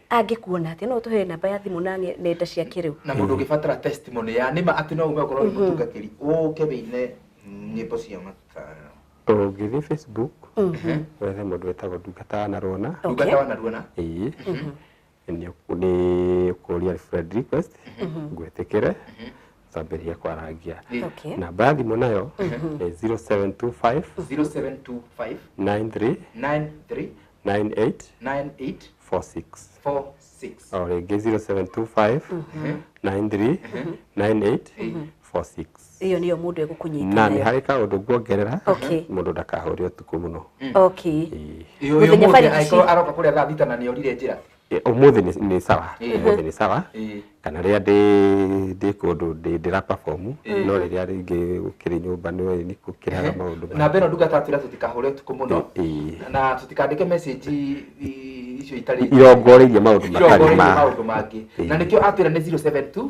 angĩkuona atĩa no ũtũhe namba ya thimũ na nge- nenda cia kĩrĩu na mũndũ ũngĩbatara testimony ya nĩma atĩ no ume okorwo nĩ mũtungatĩri ũke wĩine nyĩmbo cia matara ũngĩthiĩ facebook wethe mũndũ wetagwo ndungata wanarwona ndungata wanaruona ĩĩ nĩ ũkũ- nĩ ũkũria friend request ngwĩtĩkĩre twambĩrĩria kwarangia Okay. namba ya thimũ nayo nĩ 0725 0725 93 93 9846 o rĩngĩ 0725 93 9846 iyo niyo mundu egukunyita na ni hari ka undu nguongerera mundu ndakahuri utuku muno okay iyo iyo mundu aiko aroka kuria thaa thita na ni orire njira Eh, Ũmũthĩ nĩ- nĩ sawa, Eh. ũmũthĩ nĩ sawa. Eh. Kana rĩrĩa ndĩ- ndĩ kũndũ ndĩ- ndĩra perform, Eh. no rĩrĩa rĩngĩ gũkĩrĩ nyũmba nĩ ũĩ nĩ gũkĩraga maũndũ maingĩ. namba ĩno ndungata atwĩra tũtikahũre ũtukũ mũno Eh. na tũtikandĩke message i- icio itarĩ Irongoreirie maũndũ matarĩ Irongoreirie ma- maũndũ mangĩ na nĩkĩo atwĩra nĩ 072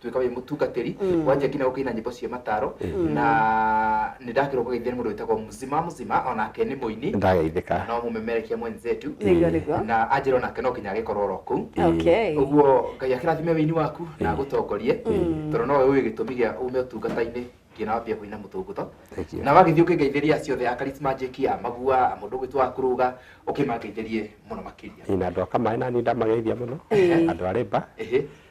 tuika wi mutungatiri mm. wanjia nginya gukaina nyimbo cia mataro mm. na ni ndakirwo kugeithia ni mundu witagwo mzima mzima onake ni muini ndageithika no mumemerekia mwenzetu mm. na anjira onake no nginya agikorwo ro kuu okay. uguo ngai akirathime wini waku na agutongorie tondu nowe uyu gitumi gia ume utungata-ini nginya wambia kuina mutunguto na wagithii ukingeithiria acio othe a charisma njiki a magua a mundu gwitwa kuruga ukimangeithirie muno makiria na andu akamai nani ndamageithia muno andu arimba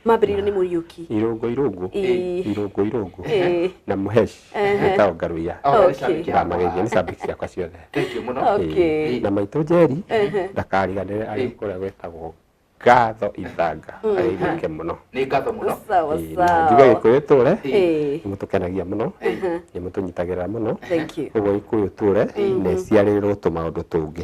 Mambĩrĩirio nĩ Mũriũki. Irũngũ irũngũ, Ĩĩ. irũngũ irũngũ, Ĩĩ. na mũheci, Ehe. ĩtagwo ngaruia. Oh, Okay. nĩcambĩki Kĩrama yakwa. gĩkĩ nĩ shabiki ciakwa ciothe. Thank you mũno. Oh. Okay. Ĩĩ. Na maitũ Njeri, Ehe. ndakariganĩre arĩ Ĩĩ. kũrĩa gwĩtagwo ngatho ithanga. Arĩirĩke mũno. Nĩ ngatho mũno. Sawa Ĩĩ, na njuge sawa. gĩkũyũ tũre, Ĩĩ. nĩ mũtũkenagia mũno, Ehe. nĩ mũtũnyitagĩrĩra mũno. Thank you. Ũguo gĩkũyũ tũre, na ĩciarĩrĩrwo tũmaũndũ tũngĩ.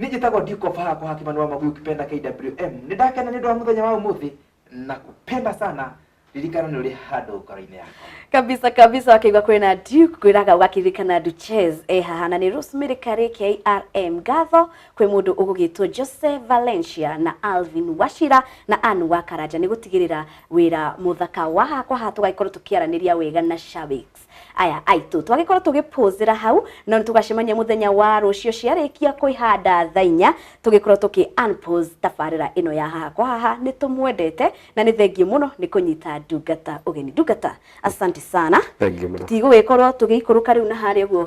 Nĩ njĩtagwo Duke of Hako Hakimani wa Mabuyu Kipenda KWM. Nĩ ndakena nĩ ũndũ wa mũthenya wa ũmũthĩ na kupenda sana ririkana nĩ ũrĩ handũ ngoro-inĩ yakwa. kabisa kabisa wakeigua kwina duke kwiraga ugakiririkana duches e haha na ni rosemary kari krm ngatho kwi mundu ugugitwo jose valencia na alvin washira na ann wakaranja ni gutigirira wira muthaka wa hakwa ha tugaikorwo tukiaraniria wega na shabiks Aya aitũ twagĩkorwo tũgĩpũzĩra hau no nĩ tũgacemania mũthenya wa rũciũ ciarĩkia kwĩhanda thaa inya tũgĩkorwo tũkĩ unpause tabarĩra ĩno ya haha kwa haha nĩ tũmwendete na nĩ thengiũ mũno nĩ kũnyita ndungata ũgeni ndungata asante sana Thank you mũno. tũtigũgĩkorwo tũgĩikũrũka rĩu na harĩa ũguo